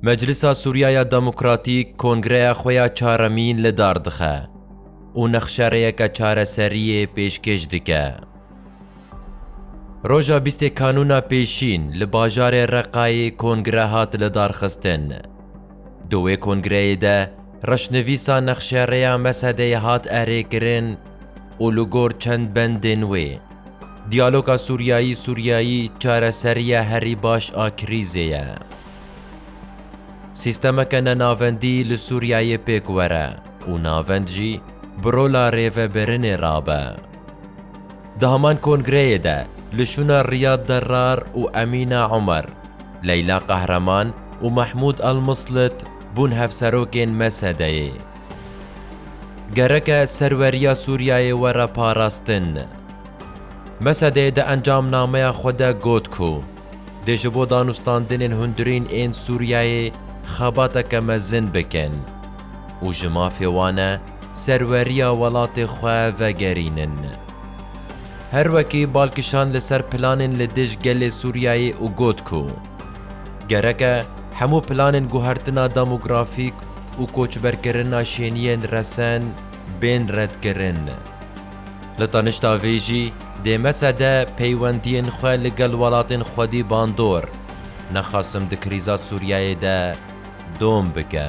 Meclisa Sûriya ya Demokratîk kongreya xwe ya çaremîn li dar dixe û nexşereyeke çareseriyê pêşkêş dike. Roja bîstê Kanûna Pêşîn li bajarê Reqayê kongre hat lidarxistin. Di wê kongreyê de reşnivîsa nexşereya Mesedeyê hat erêkirin û li gor çend bendên wê, Diyaloga Sûriyayî-Sûriyayî çareseriya herî baş a krîzê ye. Sîstemeke nenavendî li Sûriyeyê pêk were û navend jî bi rola rêvebirinê rabe. Di heman kongreyê de li şûna Riyad Derrar û Emîna Omer, Leyla Qehreman û Mehmûd Elmislit bûn hevserokên MSD'ê. Gereke serweriya Sûriyeyê were parastin. Mesedê di encamnameya xwe de got ku dê ji bo danûstandinên hundirîn ên Sûriyeyê xebateke mezin bikin û ji mafê wan e serweriya welatê xwe vegerînin. Her wekî bal kişand li ser planên li dij gelê Sûriyeyê û got ku gereke hemû planên guhertina demografîk û koçberkirina şêniyên resen bên redkirin. Li tanişta vê jî dê mesede peywendiyên xwe li gel welatên xwedî bandor nexasim di krîza Sûriyeyê de dom bike.